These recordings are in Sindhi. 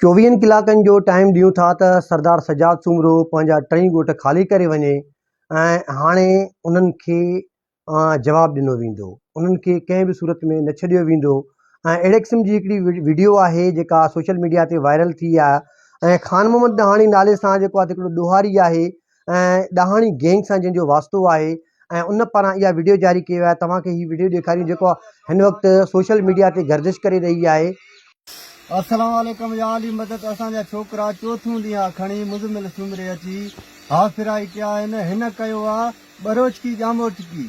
چوويهن ڪلاڪن جو ٽائيم ڏيون ٿا ته سردار سجاد سومرو پنهنجا ٽئي ڳوٺ خالي ڪري وڃي ۽ هاڻي انهن کي جواب ڏنو ويندو انهن کي ڪنهن به صورت ۾ نه ڇڏيو ويندو ۽ اهڙي قسم جي هڪڙي ويڊيو آهي جيڪا سوشل ميڊيا تي وائرل ٿي آهي ۽ خان محمد ڏهاڻي نالي سان جيڪو آهي هڪڙو ڏوهاري آهي ۽ ڏاهاڻي گينگ سان جنهن جو واسطو آهي ۽ ان پاران اها وڊيو جاري ڪئي وئي آهي توهان کي هي وڊيو ڏيکاريون جيڪو هن وقت سوشل ميڊيا تي گردش ڪري رهي آهي. السلام عليڪم يا علي مدد اسان جا ڇوڪرا چوٿون ڏينهان کڻي مزمل سومري اچي هافراهي ڪيا آهن هن ڪيو آ ٻروچڪي ڄاموٽڪي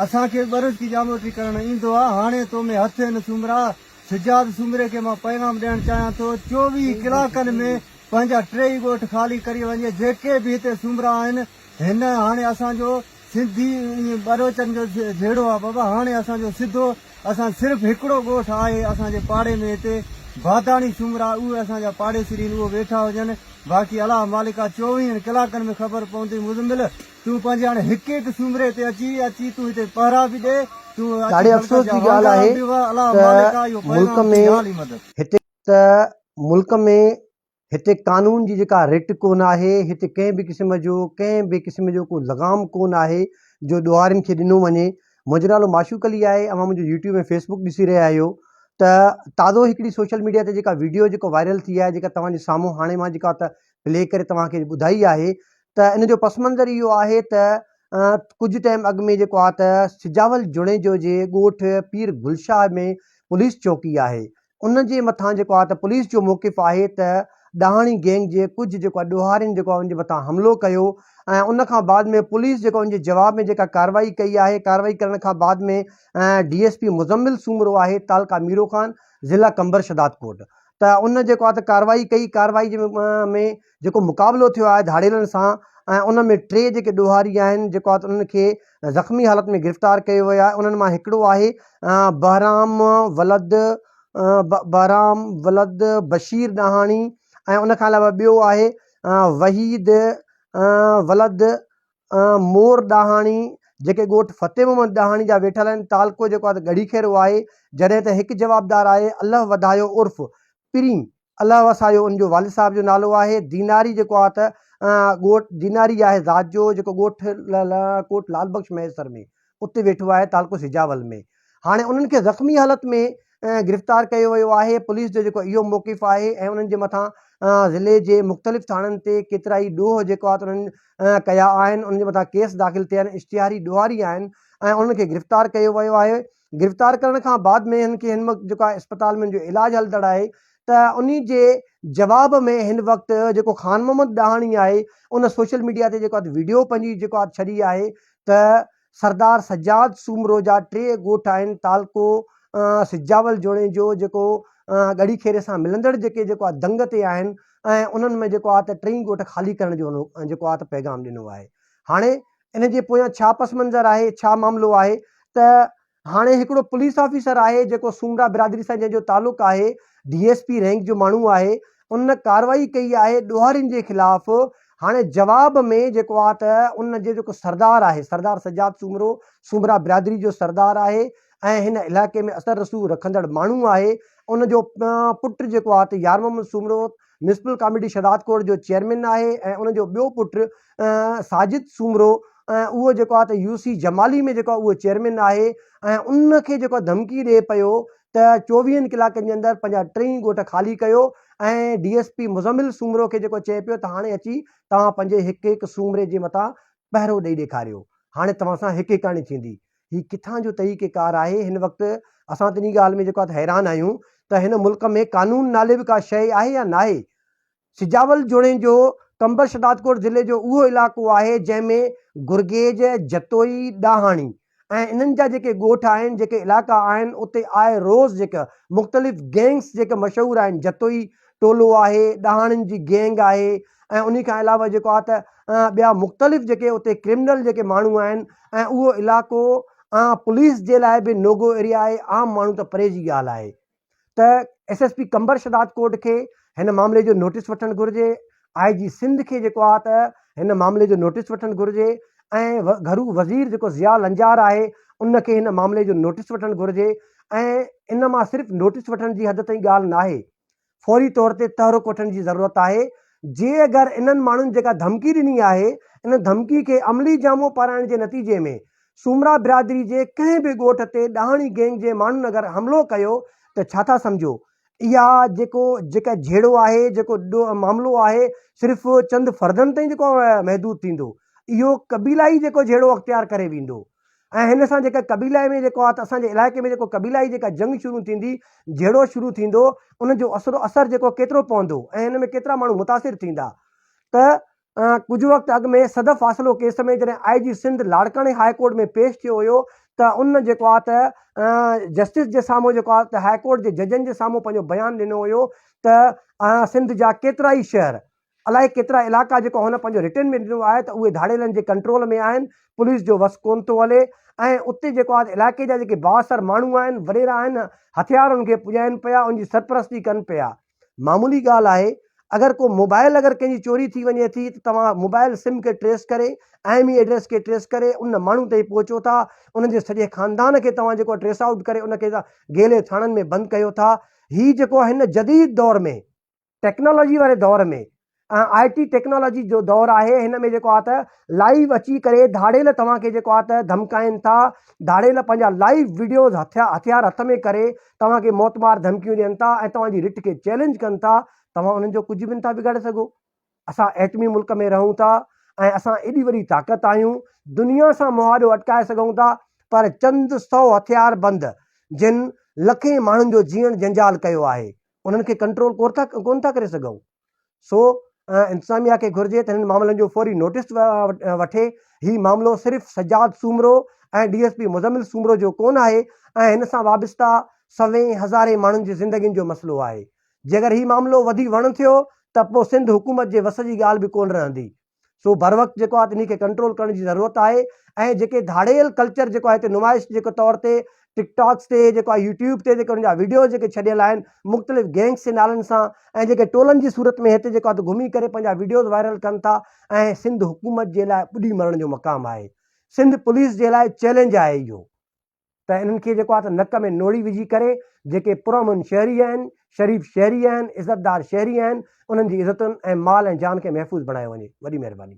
اسان کي ٻروچڪي ڄاموٽڪي ڪرڻ ايندو آ هاڻي تو ۾ هٿ هين سومرا. سجاد سومري کي مان پيغام ڏيڻ چاهيان ٿو چوويهه ڪلاڪن ۾ پنهنجا ٽي ئي ڳوٺ خالي ڪري وڃي جيڪي به هتي سومرا آهن هن هاڻي اسان جو سنڌي ۽ ٻروچن جو جهيڙو آهي بابا هاڻي اسان جو سڌو اسان صرف هڪڙو ڳوٺ آهي اسان جي پاڙي ۾ هتي باداڻي سومرا اهي اسان جا پاڙيسرين اهي ويٺا هجن باقي الله مالڪ آهي چوويهن ڪلاڪن ۾ خبر پوندي مزمل تون پنهنجي هاڻي هڪ هڪ سومري تي اچي اچي تون هتي پهرا به ڏي تون اچي ڏاڍي افسوس جي ڳالهه آهي ته ملڪ ۾ هتي ته ملڪ ۾ هتي قانون جي جيڪا رٽ ڪونه آهي هتي ڪنهن به قسم جو ڪنهن به قسم جو ڪو لغام ڪونه آهي جو ڏوهارين کي ڏنو وڃي منهنجو نالو معشوق علي آهي اوهان منهنجو يوٽيوب ۽ فيسبوڪ ڏسي رهيا آهيو ته تازو هڪڙي سوشل ميڊيا تي جيڪا ويڊيو جيڪو وائرل ٿي آهي جيڪا توهان جي سامهون هاڻي مان جيڪا ته پلي ڪري توهان کي ٻڌائي آهي ته ان جو پس منظر اهو آهي ته ڪجهه ٽائيم اڳ ۾ جيڪو آهي ته سجاول جوڻيجو جي ڳوٺ پير گلشاهه ۾ پوليس چوڪي آهي ان جي مٿان جيڪو آهي ته پوليس جو موقف آهي ته ڏاهاڻي گينگ جي ڪجهه جيڪو آهي ڏوهارين جيڪو آهي ان جي مٿان حملو ڪيو ۽ ان کان بعد ۾ پوليس جيڪو ان جي جواب ۾ جيڪا ڪاروائي ڪئي آهي ڪاروائي ڪرڻ کان بعد ۾ D S P Muzammil Soomro آهي تعلقه ميرو خان ضلع قمبر شداد ڪوٽ ته ان جيڪو آهي ته ڪارروائي ڪئي، ڪارروائي جي ۾ جيڪو مقابلو ٿيو آهي ڌاڙيلن سان ۽ ان ۾ ٽي جيڪي ڏوهاري آهن جيڪو آهي ته انهن کي زخمي حالت ۾ گرفتار ڪيو ويو آهي انهن مان هڪڙو آهي بهرام ولد بهرام ولد بشير ڏاهاڻي ۽ ان کان علاوه ٻيو آهي وحيد ولد مور ڏاهاڻي، جيڪي ڳوٺ فتح محمد ڏاهاڻي جا ويٺل آهن، تعلقو جيڪو آهي ته ڳڙهي خير اهو آهي، جڏهن ته هڪ جوابدار آهي الله وڌايو عرف پرين الله وسايو، ان جو والد صاحب جو نالو آهي ديناري جيڪو آهي ته ڳوٺ ديناري آهي ذات جو جيڪو ڳوٺ ڪوٽ لعل بخش مهيسر ۾ اتي ويٺو آهي تعلقو سجاول ۾ هاڻي انهن کي زخمي حالت ۾ گرفتار ڪيو ويو آهي پوليس جو جيڪو اهو موقف آهي ۽ انهن جي مٿان ضلعي جي مختلف ٿاڻن تي ڪيترائي ڏوهه جيڪو آهي انهن ڪيا آهن انهن جي مٿان ڪيس داخل ٿيا آهن اشتهاري ڏوهاري آهن ۽ انهن کي گرفتار ڪيو ويو آهي گرفتار ڪرڻ کان بعد ۾ هن کي هن وقت جيڪو آهي اسپتال ۾ جو علاج هلندڙ آهي ته ان جي جواب ۾ هن وقت جيڪو خان محمد ڏاهاڻي آهي ان سوشل ميڊيا تي جيڪو ويڊيو پنهنجي جيڪو ڇڏي آهي ته سردار سجاد سومرو جا ٽي ڳوٺ آهن تعلقو سجاول جوڻيجو جيڪو ڳڙهي کيري سان ملندڙ جيڪي جيڪو آهي دنگ تي آهن ۽ انهن ۾ جيڪو آهي ته ٽئي ڳوٺ خالي ڪرڻ جو جيڪو آهي ته پيغام ڏنو آهي هاڻي ان جي پويان ڇا پس منظر آهي ڇا معاملو آهي ته هاڻي هڪڙو پوليس آفيسر آهي جيڪو سومرا برادري سان جنهن جو تعلق آهي ڊي ايس پي رينڪ جو ماڻهو آهي ان ڪارروائي ڪئي آهي ڏوهارين جي خلاف هاڻي جواب ۾ جيڪو آ ته ان جو جيڪو سردار آهي سردار سجاد سومرو سومرا برادري جو سردار آهي ۽ هن علائقي ۾ اثر رسوخ رکندڙ ماڻهو آهي ان جو پٽ جيڪو آ ته يارمحمد سومرو ميونسپل ڪاميٽي شهدادڪوٽ جو چيئرمين آهي ۽ ان جو ٻيو پٽ ساجد سومرو اهو جيڪو آهي ته يو سي جمالي ۾ جيڪو اهو چيئرمين آهي ۽ ان کي جيڪو ڌمڪي ڏئي پيو ته چوويهن ڪلاڪن جي اندر پنهنجا ٽئي ڳوٺ خالي ڪيو ۽ D S P Muzammil Soomro کي جيڪو چئي پيو ته هاڻي اچي توهان پنهنجي هڪ هڪ سومري جي مٿان پهرو ڏئي ڏيکاريو هاڻي توهان سان هڪ هڪاڻي ٿيندي هي ڪٿان جو طريقه ڪار آهي هن وقت اسان تنهن ڳالهه ۾ جيڪو حيران آهيون ته هن ملڪ ۾ قانون نالي به ڪا شيء آهي يا ناهي سجاول جوڻيجو جو قمبر شهدادڪوٽ ضلعي جو اهو علاقو آهي جنهن ۾ گرگيج جتوئي ڏاهاڻي ۽ انهن جا جيڪي ڳوٺ آهن جيڪي علاقا آهن اتي آء روز جيڪا مختلف گينگس جيڪا مشهور آهن جتوئي ٽولو آهي، ڏاهاڻين جي گينگ آهي ۽ انهي کان علاوه جيڪو آهي ته ٻيا مختلف جيڪي اتي ڪرمنل جيڪي ماڻهو آهن ۽ اهو علائقو پوليس جي لاء به نو گو ايريا آهي، عام ماڻهو ته پري جي ڳالهه آهي ته S S P Qambar Shahdadkot کي هن معاملي جو نوٽيس وٺڻ گهرجي، آء جي سنڌ کي جيڪو آهي ته هن معاملي جو نوٽيس وٺڻ گهرجي ۽ گهرو وزير جيڪو ضياء لنجار آهي ان کي هن معاملي جو نوٽيس وٺڻ گهرجي ۽ ان مان صرف نوٽيس وٺڻ جي حد تائين ڳالهه ناهي. فوري طور تي تحرڪ وٺڻ جي ضرورت آهي، جي اگر انهن ماڻهن جيڪا ڌمڪي ڏني آهي، ان ڌمڪي کي عملي جامو پارائڻ جي نتيجي ۾ سومرا برادري جي ڪنهن به ڳوٺ تي ڏاهاڻي گينگ جي ماڻهن اگر حملو ڪيو ته ڇا ٿا سمجهو؟ اها جيڪو جيڪا جهيڙو آهي، جيڪو معاملو آهي، صرف چند فردن تائين جيڪو محدود ٿيندو، اهو قبيلائي جيڪو جهيڙو اختيار ڪري ويندو. ۽ هن سان جيڪا قبيلائي ۾ جيڪو آ ته اسان جي علائقي ۾ جيڪو قبيلائي جيڪا جنگ شروع ٿيندي، جهيڙو شروع ٿيندو، ان جو اثر و اثر جيڪو ڪيترو پوندو ۽ ان ۾ ڪيترا ماڻهو متاثر ٿيندا ته ڪجهه وقت اڳ ۾ صدف فاصلو ڪيس ۾ جڏهن آء جي سنڌ لاڙڪاڻي هاء ڪورٽ ۾ پيش ٿيو هيو ته ان جيڪو آ ته جسٽس جي سامهون جيڪو آ ته هاء ڪورٽ جي ججن جي سامهون پنهنجو بيان ڏنو هيو ته سنڌ جا ڪيترائي شهر الائي ڪيترا علائقا جيڪو هن پنهنجو رٽن ۾ ڏنو آهي ته اهي ڌاڙيلن جي ڪنٽرول ۾ آهن، پوليس جو وس ڪونه ٿو هلي ۽ اتي جيڪو آهي ته علائقي جا جيڪي بااثر ماڻهو آهن، وڏيرا آهن، هٿيار انهن کي پڄائين پيا، ان جي سرپرستي ڪن پيا. معمولي ڳالهه آهي، اگر ڪو موبائل اگر ڪنهن جي چوري ٿي وڃي ٿي ته توهان موبائل سم کي ٽريس ڪري، آئي مي ايڊريس کي ٽريس ڪري ان ماڻهو تائين پهچو ٿا، ان جي سڄي خاندان کي توهان جيڪو آهي ٽريس آئوٽ ڪري ان کي گيلي ٿاڻن ۾ بند ڪيو ٿا. هي جيڪو آهي هن جديد دور ۾. ٽيڪنالاجي واري دور ۾ ۽ آء ٽي ٽيڪنالاجي جو دور آهي هن ۾ جيڪو آهي ته لائيو اچي ڪري ڌاڙيل توهان کي جيڪو آهي ته ڌمڪائن ٿا ڌاڙيل پنهنجا لائيو وڊيوز هٿيا هٿيار هٿ ۾ ڪري توهان کي موت مار ڌمڪيون ڏين ٿا ۽ توهان جي رٽ کي چئلينج ڪن ٿا توهان انهن جو ڪجهه به نٿا بگاڙي سگهو اسان ايٽمي ملڪ ۾ رهون ٿا ۽ اسان ايڏي وڏي طاقت آهيون دنيا سان مهاڏو اٽڪائي سگهون ٿا پر چند سو هٿيار بند جن لکين ماڻهن جو جيئڻ جنجال ڪيو آهي انهن کي ڪنٽرول ڪون ٿا ڪري سگهون سو انتظاميا کي گهرجي ته هنن معاملن جو فوري نوٽس وٺي هي معاملو صرف Sajjad Soomro ۽ D S P Muzammil Soomro جو ڪون آهي ۽ هن سان وابسته سوين هزارين ماڻهن جي زندگين جو مسئلو آهي جيڪر هي معاملو وڌي وڻ ٿيو ته پو سنڌ حڪومت جي وس جي ڳالهه به ڪون رهندي سو بروقت جيڪو آهي انهي کي ڪنٽرول ڪرڻ جي ضرورت آهي ۽ جيڪي ڌاڙيل ڪلچر جيڪو آهي هتي نمائش جيڪو طور تي ٽڪ ٽاڪس تي جيڪو آهي يوٽيوب تي جيڪي ان جا ويڊيوز جيڪي ڇڏيل آهن مختلف گينگس جي نالن سان ۽ جيڪي ٽولن جي صورت ۾ هتي جيڪو آهي گهمي ڪري پنهنجا ويڊيوز وائرل ڪن ٿا ۽ سنڌ حڪومت جي لاء ٻڏي مرڻ جو مقام آهي سنڌ پوليس جي لاء چئلينج آهي اهو ته انهن کي جيڪو آهي ته نڪ ۾ نوڙي وجهي ڪري جيڪي پرامن شهري آهن، شريف شهري آهن، عزتدار شهري آهن، انهن جي عزتن ۽ مال ۽ جان کي محفوظ بڻايو وڃي. وڏي مهرباني.